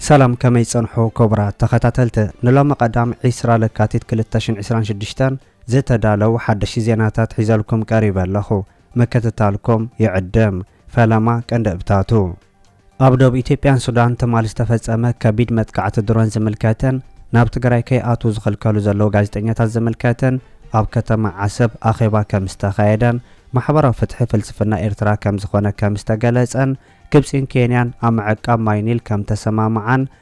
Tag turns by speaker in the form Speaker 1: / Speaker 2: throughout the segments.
Speaker 1: ሰላም ከመይ ጸንሑ ክቡራት ተኸታተልቲ ንሎሚ ቀዳም ዒስራ ለካቲት ክልተ ሽን ዒስራን ሽዱሽተን ዝተዳለው ሓደሽቲ ዜናታት ሒዘልኩም ቀሪበ ኣለኹ ምክትታልኩም ይዕድም ፈለማ ቀንዲ እብታቱ ኣብ ዶብ ኢትዮጵያን ሱዳን ትማሊ ዝተፈጸመ ከቢድ መጥቃዕቲ ድሮን ዝምልከትን ናብ ትግራይ ከይኣትዉ ዝኽልከሉ ዘለዉ ጋዜጠኛታት ዝምልከትን ኣብ ከተማ ዓሰብ ኣኼባ ከም ዝተኻየደን ማሕበራዊ ፍትሒ ፍልስፍና ኤርትራ ከም ዝኾነ ከም ዝተገለጸን ግብጺን ኬንያን ኣብ ምዕቃብ ማይ ኒል ከም ተሰማምዓን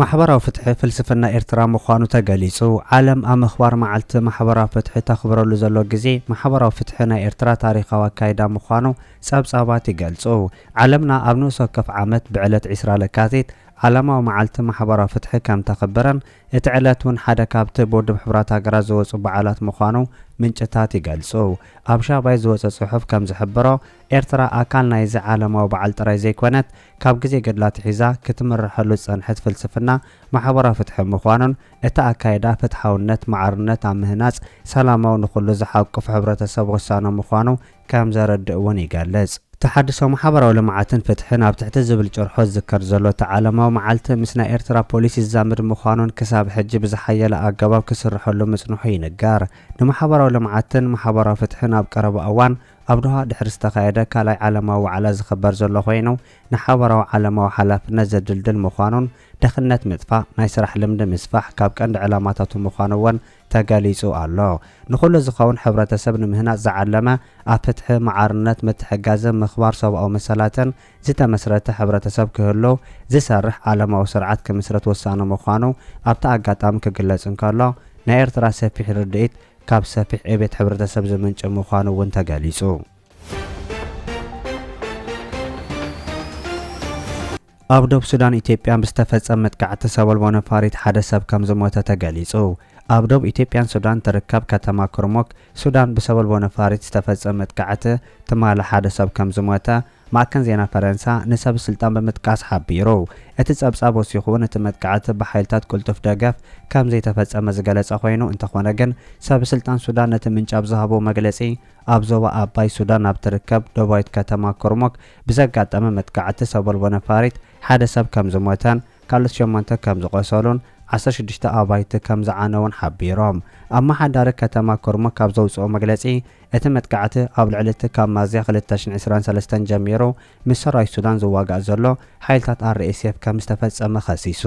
Speaker 1: ማሕበራዊ ፍትሒ ፍልስፍና ኤርትራ ምዃኑ ተገሊጹ። ዓለም ኣብ ምኽባር መዓልቲ ማሕበራዊ ፍትሒ ተኽብረሉ ዘሎ ግዜ፣ ማሕበራዊ ፍትሒ ናይ ኤርትራ ታሪኻዊ ኣካይዳ ምዃኑ ጸብጻባት ይገልጹ። ዓለምና ኣብ ንኡስ ወከፍ ዓመት ብዕለት ዕስራ ለካቲት ዓለማዊ መዓልቲ ማሕበራዊ ፍትሒ ከም ተኽብርን እቲ ዕለት እውን ሓደ ካብቲ ብውድብ ሕቡራት ሃገራት ዝወጹ በዓላት ምዃኑ ምንጭታት ይገልጹ። ኣብ ሻባይ ዝወጸ ጽሑፍ ከም ዝሕብሮ፣ ኤርትራ ኣካል ናይዚ ዓለማዊ በዓል ጥራይ ዘይኮነት፣ ካብ ግዜ ገድላ ኣትሒዛ ክትምረሐሉ ዝጸንሐት ፍልስፍና ማሕበራዊ ፍትሒ ምዃኑን፣ እቲ ኣካይዳ ፍትሓውነት፣ ማዕርነት ኣብ ምህናጽ ሰላማዊ ንኹሉ ዝሓቁፍ ሕብረተሰብ ወሳኑ ምዃኑ ከም ዘረድእ እውን ይገልጽ። ተሓድሶ ማሕበራዊ ልምዓትን ፍትሕን ኣብ ትሕቲ ዝብል ጭርሖ ዝዝከር ዘሎ እቲ ዓለማዊ መዓልቲ ምስ ናይ ኤርትራ ፖሊሲ ዝዛመድ ምዃኑን ክሳብ ሕጂ ብዝሓየለ ኣገባብ ክስርሐሉ ምጽንሑ ይንገር። ንማሕበራዊ ልምዓትን ማሕበራዊ ፍትሕን ኣብ ቀረባ እዋን ኣብ ዶሃ ድሕሪ ዝተኻየደ ካልኣይ ዓለማዊ ዋዕላ ዝኽበር ዘሎ ኮይኑ፣ ንሓባራዊ ዓለማዊ ሓላፍነት ዘድልድል ምዃኑን ድኽነት ምጥፋእ፣ ናይ ስራሕ ልምዲ ምስፋሕ ካብ ቀንዲ ዕላማታቱ ምዃኑ እውን ተገሊፁ ኣሎ። ንኹሉ ዝኸውን ሕብረተሰብ ንምህናፅ ዝዓለመ ኣብ ፍትሒ፣ ማዕርነት፣ ምትሕግጋዝን ምኽባር ሰብኣዊ መሰላትን ዝተመስረተ ሕብረተሰብ ክህሉ ዝሰርሕ ዓለማዊ ስርዓት ክምስረት ወሳኒ ምዃኑ ኣብቲ ኣጋጣሚ ክግለፅ እንከሎ ናይ ኤርትራ ሰፊሕ ርድኢት ካብ ሰፊሕ ዕቤት ሕብረተሰብ ዝምንጪ ምዃኑ እውን ተገሊፁ። ኣብ ዶብ ሱዳን ኢትዮጵያን ብዝተፈፀመ መጥቃዕቲ ሰበልቦ ነፋሪት ሓደ ሰብ ከምዝሞተ ተገሊፁ። ኣብ ዶብ ኢትዮጵያን ሱዳን ትርከብ ከተማ ኩርሙክ ሱዳን ብሰበልቦ ነፋሪት ዝተፈፀመ መጥቃዕቲ ትማሊ ሓደ ሰብ ከምዝሞተ ማዕከን ዜና ፈረንሳ ንሰብ ስልጣን ብምጥቃስ ሓቢሩ። እቲ ጸብጻብ ወሲኹ'ውን እቲ መጥቃዕቲ ብሓይልታት ቅልጡፍ ደገፍ ከም ዘይተፈጸመ ዝገለጸ ኮይኑ፣ እንተኾነ ግን ሰብ ስልጣን ሱዳን ነቲ ምንጪ ኣብ ዝሃብዎ መግለጺ ኣብ ዞባ ኣባይ ሱዳን ኣብ ትርከብ ደቡባዊት ከተማ ኩርሙክ ብዘጋጠመ መጥቃዕቲ ሰቦልቦ ነፋሪት ሓደ ሰብ ከም ዝሞተን ካልኦት ሸሞንተ ከም ዝቖሰሉን ዓሰርተ ሽዱሽተ ኣባይቲ ከም ዝዓነዉን ሓቢሮም። ኣመሓዳሪ ከተማ ኩርሙክ ኣብ ዘውጽኦ መግለጺ፣ እቲ መጥቃዕቲ ኣብ ልዕሊ እቲ ካብ ሚያዝያ ክልተ ሽሕ ዕስራን ሰለስተን ጀሚሩ ምስ ሰራዊት ሱዳን ዝዋጋእ ዘሎ ሓይልታት ኣርኤስኤፍ ከም ዝተፈጸመ ከሲሱ።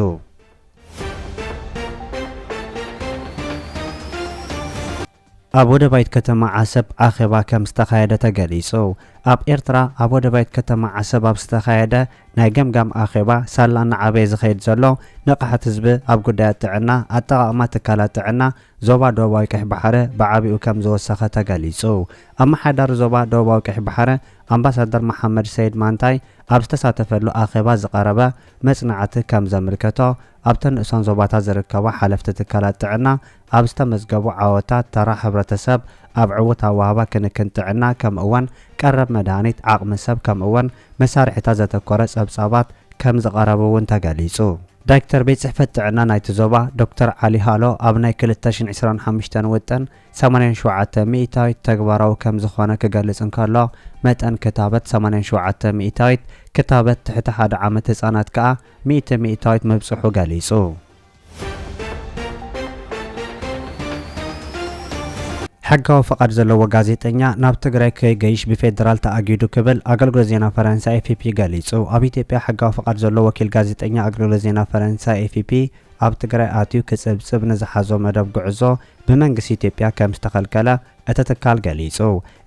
Speaker 1: ኣብ ወደባይት ከተማ ዓሰብ ኣኼባ ከም ዝተኻየደ ተገሊጹ። ኣብ ኤርትራ ኣብ ወደባይት ከተማ ዓሰብ ኣብ ዝተኻየደ ናይ ገምጋም ኣኼባ ሳላ እናዓበየ ዝኸይድ ዘሎ ንቕሓት ህዝቢ ኣብ ጉዳያት ጥዕና፣ ኣጠቓቕማ ትካላት ጥዕና፣ ዞባ ደቡባዊ ቀይሕ ባሕረ ብዓቢኡ ከም ዝወሰኸ ተገሊጹ። ኣመሓዳሪ ዞባ ደቡባዊ ቀይሕ ባሕረ ኣምባሳደር መሓመድ ሰይድ ማንታይ ኣብ ዝተሳተፈሉ ኣኼባ ዝቐረበ መጽናዕቲ ከም ዘምልከቶ ኣብተን ንኡሳን ዞባታት ዝርከባ ሓለፍቲ ትካላት ጥዕና ኣብ ዝተመዝገቡ ዓወታት ተራ ሕብረተሰብ ኣብ ዕውት ኣወሃህባ ክንክን ጥዕና ከምእወን ቀረብ መድሃኒት ዓቕሚ ሰብ ከምእወን መሳርሒታት ዘተኮረ ጸብጻባት ከም ዝቐረብ'ውን ተገሊጹ። ዳይክተር ቤት ጽሕፈት ጥዕና ናይቲ ዞባ ዶክተር ዓሊ ሃሎ ኣብ ናይ ክልተ ሽን ዕስራን ሓምሽተን ውጥን ሰማንያን ሸውዓተ ሚኢታዊት ተግባራዊ ከምዝኾነ ክገልጽ እንከሎ መጠን ክታበት ሰማንያን ሸውዓተ ሚኢታዊት ክታበት ትሕቲ ሓደ ዓመት ህጻናት ከኣ ሚእቲ ሚኢታዊት ምብጽሑ ገሊጹ። ሕጋዊ ፍቓድ ዘለዎ ጋዜጠኛ ናብ ትግራይ ከይገይሽ ብፌደራል ተኣጊዱ ክብል ኣገልግሎት ዜና ፈረንሳ ኤፍፒ ገሊጹ። ኣብ ኢትዮጵያ ሕጋዊ ፍቓድ ዘሎ ወኪል ጋዜጠኛ ኣገልግሎት ዜና ፈረንሳ ኤፍፒ ኣብ ትግራይ ኣትዩ ክጽብጽብ ንዝሓዞ መደብ ጉዕዞ ብመንግስቲ ኢትዮጵያ ከምዝተኸልከለ እቲ ትካል ገሊጹ።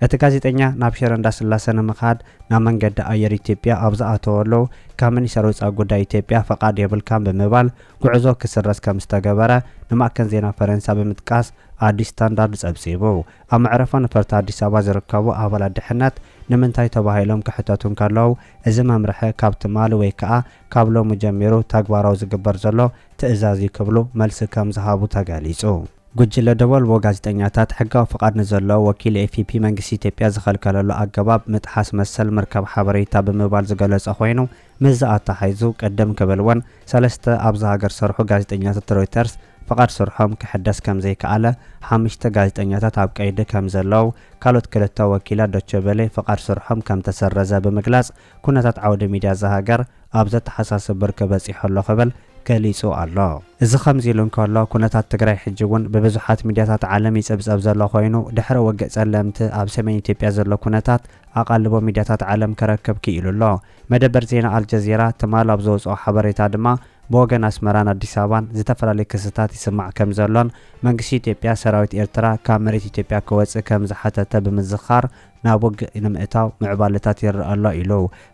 Speaker 1: እቲ ጋዜጠኛ ናብ ሽረ እንዳስላሰ ንምኻድ ናብ መንገዲ ኣየር ኢትዮጵያ ኣብ ዝኣተወሉ ካብ ሚኒስተር ወጻኢ ጉዳይ ኢትዮጵያ ፈቓድ የብልካን ብምባል ጉዕዞ ክስረዝ ከም ዝተገበረ ንማእከን ዜና ፈረንሳ ብምጥቃስ ኣዲስ ስታንዳርድ ጸብጺቡ። ኣብ መዕረፎ ነፈርቲ ኣዲስ ኣበባ ዝርከቡ ኣባላት ድሕነት ንምንታይ ተባሂሎም ክሕተቱ እንከለዉ እዚ መምርሒ ካብ ትማሊ ወይ ከኣ ካብ ሎሚ ጀሚሩ ተግባራዊ ዝግበር ዘሎ ትእዛዝ እዩ ክብሉ መልሲ ከም ዝሃቡ ተገሊጹ። ጉጅለ ደበልቦ ጋዜጠኛታት ሕጋዊ ፍቓድ ንዘለዎ ወኪል ኤፍፒ መንግስቲ ኢትዮጵያ ዝኸልከለሉ ኣገባብ ምጥሓስ መሰል ምርካብ ሓበሬታ ብምባል ዝገለጾ ኮይኑ፣ ምስዚ ኣተሓሒዙ ቅድም ክብል እውን ሰለስተ ኣብዛ ሃገር ዝሰርሑ ጋዜጠኛታት ሮይተርስ ፍቓድ ስርሖም ክሕደስ ከምዘይከኣለ፣ ሓምሽተ ጋዜጠኛታት ኣብ ቀይዲ ከምዘለዉ፣ ካልኦት ክልተ ወኪላት ዶቸ ቨለ ፍቓድ ስርሖም ከምተሰረዘ ብምግላጽ ኩነታት ዓውደ ሚድያ እዛ ሃገር ኣብ ዘተሓሳስብ ብርኪ በፂሑ ኣሎ ክብል ገሊፁ ኣሎ። እዚ ከምዚ ኢሉ እንከሎ ኩነታት ትግራይ ሕጂ እውን ብብዙሓት ሚድያታት ዓለም ይፅብፀብ ዘሎ ኮይኑ ድሕሪ ውግእ ፀለምቲ ኣብ ሰሜን ኢትዮጵያ ዘሎ ኩነታት ኣቓልቦ ሚድያታት ዓለም ክረክብ ክኢሉ ኣሎ። መደበር ዜና ኣልጀዚራ ትማል ኣብ ዘውፅኦ ሓበሬታ ድማ ብወገን ኣስመራን ኣዲስ ኣበባን ዝተፈላለዩ ክስታት ይስማዕ ከምዘሎን መንግስቲ ኢትዮጵያ ሰራዊት ኤርትራ ካብ መሬት ኢትዮጵያ ክወፅእ ከምዝሓተተ ብምዝኻር ናብ ውግእ ንምእታው ምዕባለታት ይረኣ ኣሎ ኢሉ።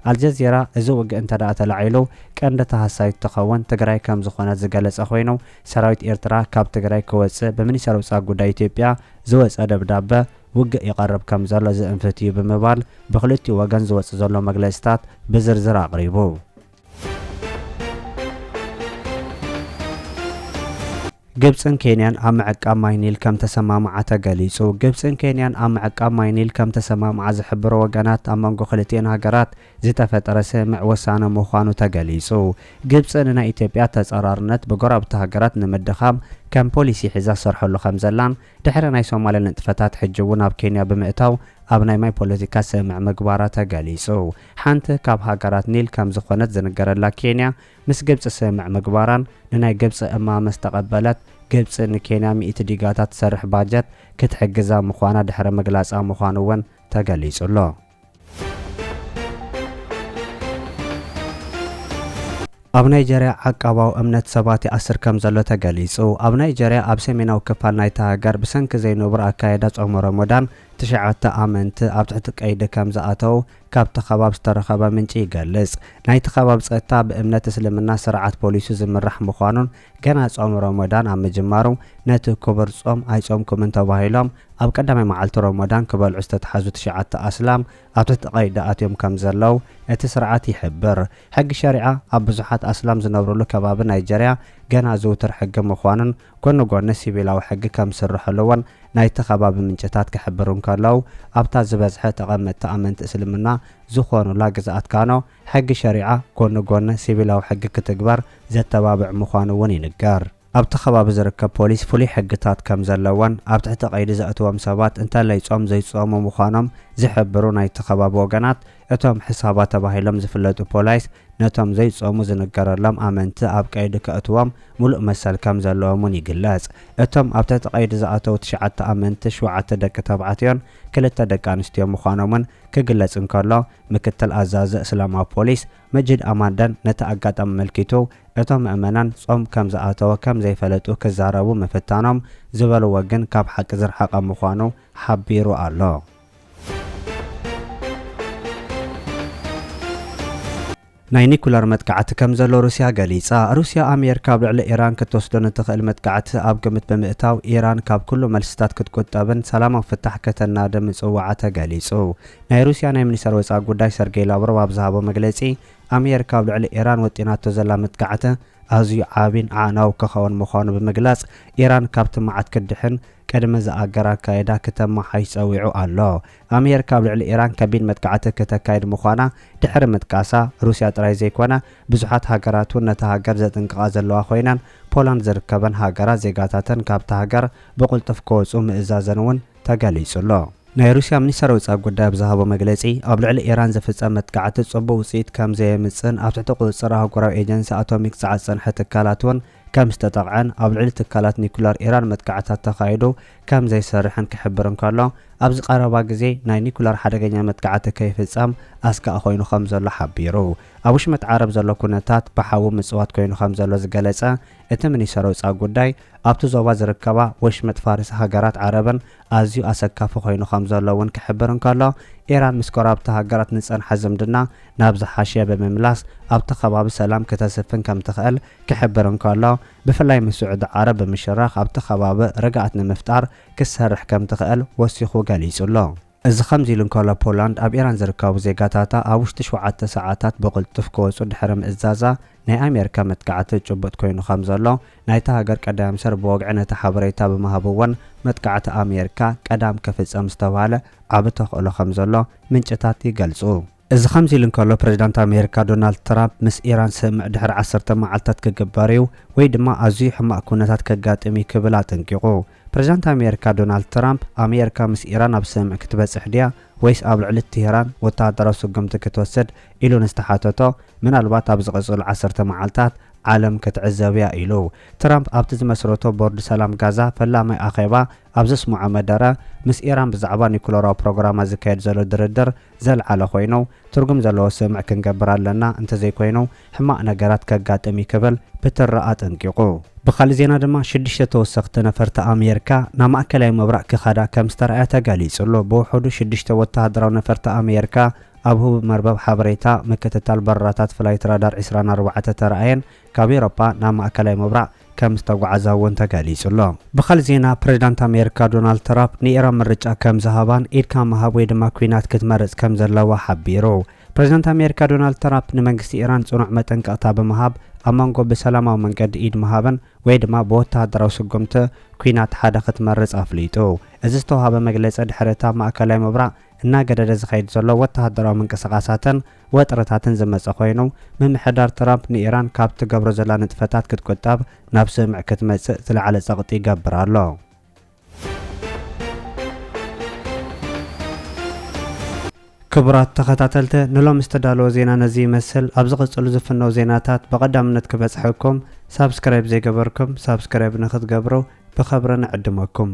Speaker 1: ኣልጀዚራ እዚ ውግእ እንተድኣ ተላዒሉ ቀንዲ ተሃሳይት እትኸውን ትግራይ ከምዝኾነት ዝገለፀ ኮይኑ ሰራዊት ኤርትራ ካብ ትግራይ ክወፅእ ብሚኒስተር ውፃእ ጉዳይ ኢትዮጵያ ዝወፀ ደብዳበ ውግእ ይቐርብ ከምዘሎ ዝእንፍት እዩ ብምባል ብክልቲኡ ወገን ዝወፅእ ዘሎ መግለፂታት ብዝርዝር ኣቕሪቡ። ግብጽን ኬንያን ኣብ ምዕቃብ ማይ ኒል ከም ተሰማምዓ ተገሊጹ። ግብጽን ኬንያን ኣብ ምዕቃብ ማይ ኒል ከም ተሰማምዓ ዝሕብሩ ወገናት ኣብ መንጎ ክልቲኤን ሃገራት ዝተፈጠረ ስምምዕ ወሳኒ ምዃኑ ተገሊጹ። ግብጺ ንናይ ኢትዮጵያ ተጻራርነት ብጎረባብቲ ሃገራት ንምድኻም ከም ፖሊሲ ሒዛ ትሰርሐሉ ከም ዘላን ድሕሪ ናይ ሶማልያ ንጥፈታት ሕጂ እውን ኣብ ኬንያ ብምእታው ኣብ ናይ ማይ ፖለቲካ ስምምዕ ምግባራ ተገሊፁ። ሓንቲ ካብ ሃገራት ኒል ከም ዝኾነት ዝንገረላ ኬንያ ምስ ግብፂ ስምምዕ ምግባራን ንናይ ግብፂ እማመ ምስ ተቐበለት ግብፂ ንኬንያ ሚእቲ ዲጋታት ዝሰርሕ ባጀት ክትሕግዛ ምዃና ድሕሪ ምግላፃ ምዃኑ እውን ተገሊፁ ኣሎ። ኣብ ናይጀርያ ዓቃባዊ እምነት ሰባት ይኣስር ከምዘሎ ተገሊጹ። ኣብ ናይጀርያ ኣብ ሰሜናዊ ክፋል ናይታ ሃገር ብሰንኪ ዘይንቡር ኣካይዳ ጾመ ሮሞዳን ትሽዓተ ኣመንቲ ኣብ ትሕቲ ቀይዲ ከምዝኣተዉ ካብቲ ከባብ ዝተረኸበ ምንጪ ይገልጽ። ናይቲ ከባቢ ጸጥታ ብእምነት እስልምና ስርዓት ፖሊሱ ዝምራሕ ምዃኑን ገና ጾም ሮሞዳን ኣብ ምጅማሩ ነቲ ኩቡር ጾም ኣይጾምኩምን ተባሂሎም ኣብ ቀዳማይ መዓልቲ ሮሞዳን ክበልዑ ዝተትሓዙ ትሽዓተ ኣስላም ኣብቲ ተቐይዲ ኣትዮም ከምዘለው እቲ ስርዓት ይሕብር። ሕጊ ሸሪዓ ኣብ ብዙሓት ኣስላም ዝነብርሉ ከባቢ ናይጀርያ ገና ዝውቱር ሕጊ ምዃኑን ጎኒ ጎኒ ሲቪላዊ ሕጊ ከምዝስርሐሉ'ውን ናይቲ ከባቢ ምንጭታት ክሕብሩ እንከለው ኣብታ ዝበዝሐ ተቐመጥቲ ኣመንቲ እስልምና ዝኾኑላ ግዝኣት ካኖ ሕጊ ሸሪዓ ጎኒ ጎኒ ሲቪላዊ ሕጊ ክትግበር ዘተባብዕ ምዃኑ እውን ይንገር። ኣብቲ ከባቢ ዝርከብ ፖሊስ ፍሉይ ሕግታት ከም ዘለዎን ኣብ ትሕቲ ቀይዲ ዘእትዎም ሰባት እንተለይ ጾም ዘይጾሙ ምዃኖም ዝሕብሩ ናይቲ ከባቢ ወገናት እቶም ሕሳባ ተባሂሎም ዝፍለጡ ፖላይስ ነቶም ዘይጾሙ ዝንገረሎም ኣመንቲ ኣብ ቀይዲ ከእትዎም ምሉእ መሰል ከም ዘለዎም እውን ይግለጽ። እቶም ኣብ ትሕቲ ቀይዲ ዝኣተዉ ትሽዓተ ኣመንቲ ሽውዓተ ደቂ ተባዕትዮን ክልተ ደቂ ኣንስትዮን ምዃኖም እውን ክግለጽ እንከሎ ምክትል ኣዛዚ እስላማዊ ፖሊስ መጂድ ኣማንዳን ነቲ ኣጋጣሚ ኣመልኪቱ፣ እቶም ምእመናን ጾም ከም ዝኣተወ ከም ዘይፈለጡ ክዛረቡ ምፍታኖም ዝበልዎ ግን ካብ ሓቂ ዝረሓቐ ምዃኑ ሓቢሩ ኣሎ። ናይ ኒኩለር መጥቃዕቲ ከም ዘሎ ሩስያ ገሊጻ። ሩስያ ኣሜርካ ኣብ ልዕሊ ኢራን ክትወስዶ ንትኽእል መጥቃዕቲ ኣብ ግምት ብምእታው ኢራን ካብ ኩሉ መልስታት ክትቁጠብን ሰላማዊ ፍታሕ ከተናዲ ምጽውዓ ተገሊጹ። ናይ ሩስያ ናይ ሚኒስተር ወጻኢ ጉዳይ ሰርጌይ ላቭሮቭ ኣብ ዝሃቦ መግለጺ ኣሜርካ ኣብ ልዕሊ ኢራን ወጢናቶ ዘላ መጥቃዕቲ ኣዝዩ ዓቢን ኣዕናዊ ክኸውን ምዃኑ ብምግላጽ ኢራን ካብቲ መዓት ክትድሕን ቅድሚ ዝኣገር ኣካይዳ ክተመሓይሽ ጸዊዑ ኣሎ። ኣሜርካ ኣብ ልዕሊ ኢራን ከቢድ መጥቃዕቲ ክተካይድ ምዃና ድሕሪ ምጥቃሳ፣ ሩስያ ጥራይ ዘይኮነ ብዙሓት ሃገራት እውን ነታ ሃገር ዘጥንቅቓ ዘለዋ ኮይነን፣ ፖላንድ ዝርከበን ሃገራት ዜጋታተን ካብታ ሃገር ብቕልጡፍ ክወጹ ምእዛዘን እውን ተገሊጹ ኣሎ። ናይ ሩስያ ሚኒስተር ወጻኢ ጉዳይ ኣብ ዝሃቦ መግለጺ፣ ኣብ ልዕሊ ኢራን ዝፍጸም መጥቃዕቲ ጽቡቕ ውጽኢት ከምዘየምጽእን ኣብ ትሕቲ ቁጽጽር ኣህጉራዊ ኤጀንሲ ኣቶሚክ ጸዓት ዝጸንሐ ትካላት እውን ከም ዝተጠቕዐን ኣብ ልዕሊ ትካላት ኒኩለር ኢራን መጥቃዕትታት ተኻይዱ ከም ዘይሰርሕን ክሕብር እንከሎ፣ ኣብዚ ቀረባ ግዜ ናይ ኒኩለር ሓደገኛ መጥቃዕቲ ከይፍጸም ኣስጋኢ ኮይኑ ከም ዘሎ ሓቢሩ። ኣብ ውሽመጥ ዓረብ ዘሎ ኩነታት ብሓዊ ምጽዋት ኮይኑ ከም ዘሎ ዝገለጸ እቲ ሚኒሰሪ ወጻኢ ጉዳይ፣ ኣብቲ ዞባ ዝርከባ ወሽመጥ ፋርስ ሃገራት ዓረብን ኣዝዩ ኣሰካፊ ኮይኑ ከምዘሎ እውን ክሕብር እንከሎ፣ ኢራን ምስ ጎረባብቲ ሃገራት ንዝጸንሐ ዝምድና ናብ ዝሓሸ ብምምላስ ኣብቲ ከባቢ ሰላም ክተስፍን ከምትኽእል ክሕብር እንከሎ፣ ብፍላይ ምስ ስዑዲ ዓረብ ብምሽራኽ ኣብቲ ከባቢ ርግኣት ንምፍጣር ክትሰርሕ ከምትኽእል ወሲኹ ገሊጹ ኣሎ። እዚ ከምዚ ኢሉ እንከሎ፣ ፖላንድ ኣብ ኢራን ዝርከቡ ዜጋታታ ኣብ ውሽጢ ሸውዓተ ሰዓታት ብቕልጡፍ ክወጹ ድሕሪ ምእዛዛ፣ ናይ ኣሜሪካ መጥቃዕቲ ጭቡጥ ኮይኑ ከም ዘሎ ናይታ ሃገር ቀዳያም ሰር ብወግዒ ነቲ ሓበሬታ ብምሃብ'ውን መጥቃዕቲ ኣሜሪካ ቀዳም ክፍጸም ዝተብሃለ ዓቢ ተኽእሎ ከም ዘሎ ምንጭታት ይገልጹ። እዚ ከምዚ ኢሉ እንከሎ ፕሬዝዳንት ኣሜሪካ ዶናልድ ትራምፕ ምስ ኢራን ስምምዕ ድሕሪ ዓሰርተ መዓልታት ክግበር እዩ ወይ ድማ ኣዝዩ ሕማቕ ኩነታት ከጋጥም እዩ ክብል ኣጠንቂቑ። ፕሬዝዳንት ኣሜሪካ ዶናልድ ትራምፕ፣ ኣሜሪካ ምስ ኢራን ኣብ ስምምዕ ክትበጽሕ ድያ ወይስ ኣብ ልዕሊ ቴህራን ወተሃደራዊ ስጉምቲ ክትወስድ ኢሉ ንዝተሓተቶ፣ ምናልባት ኣብ ዝቕጽሉ ዓሰርተ መዓልታት ዓለም ክትዕዘብ'ያ ኢሉ። ትራምፕ ኣብቲ ዝመስረቶ ቦርድ ሰላም ጋዛ ፈላማይ ኣኼባ ኣብ ዘስምዖ መደረ፣ ምስ ኢራን ብዛዕባ ኒኩለራዊ ፕሮግራማ ዝካየድ ዘሎ ድርድር፣ ዘልዓለ ኮይኑ ትርጉም ዘለዎ ስምዕ ክንገብር ኣለና እንተዘይኮይኑ ሕማቅ ነገራት ከጋጥም እዩ ክብል ፕትራ ኣጠንቂቁ። ብኻልእ ዜና ድማ ሽዱሽተ ተወሰኽቲ ነፈርቲ ኣሜርካ ናብ ማእከላይ ምብራቅ ክኸዳ ከምዝተራእያ ተገሊጹ ኣሎ። ብውሑዱ ሽዱሽተ ወተሃደራዊ ነፈርቲ ኣሜርካ ኣብ ህቡብ መርበብ ሓበሬታ ምክትታል በረራታት ፍላይት ራዳር ዕስራን ኣርባዕተ ተራእየን ካብ ኤውሮጳ ናብ ማእከላይ ምብራቕ ከም ዝተጓዕዛ እውን ተገሊጹ ኣሎ። ብኻልእ ዜና ፕሬዝዳንት ኣሜሪካ ዶናልድ ትራፕ ንኢራን ምርጫ ከም ዝሃባን ኢድካ ምሃብ ወይ ድማ ኲናት ክትመርጽ ከም ዘለዋ ሓቢሩ። ፕሬዝዳንት ኣሜሪካ ዶናልድ ትራፕ ንመንግስቲ ኢራን ጽኑዕ መጠንቀቕታ ብምሃብ ኣብ መንጎ ብሰላማዊ መንገዲ ኢድ ምሃብን ወይ ድማ ብወተሃደራዊ ስጉምቲ ኲናት ሓደ ክትመርጽ ኣፍሊጡ። እዚ ዝተውሃበ መግለጺ ድሕሪ እቲ ኣብ ማእከላይ ምብራቕ እናገደደ ዝኸይድ ዘሎ ወተሃደራዊ ምንቅስቓሳትን ወጥርታትን ዝመጸ ኮይኑ፣ ምምሕዳር ትራምፕ ንኢራን ካብ ትገብሮ ዘላ ንጥፈታት ክትቁጠብ ናብ ስምምዕ ክትመጽእ ዝለዓለ ጸቕጢ ይገብር ኣሎ። ክቡራት ተኸታተልቲ ንሎሚ ዝተዳለወ ዜና ነዚ ይመስል። ኣብ ዝቕጽሉ ዝፍነው ዜናታት ብቐዳምነት ክበጽሐኩም ሳብስክራይብ ዘይገበርኩም ሳብስክራይብ ንክትገብሩ ብኸብሪ ንዕድመኩም።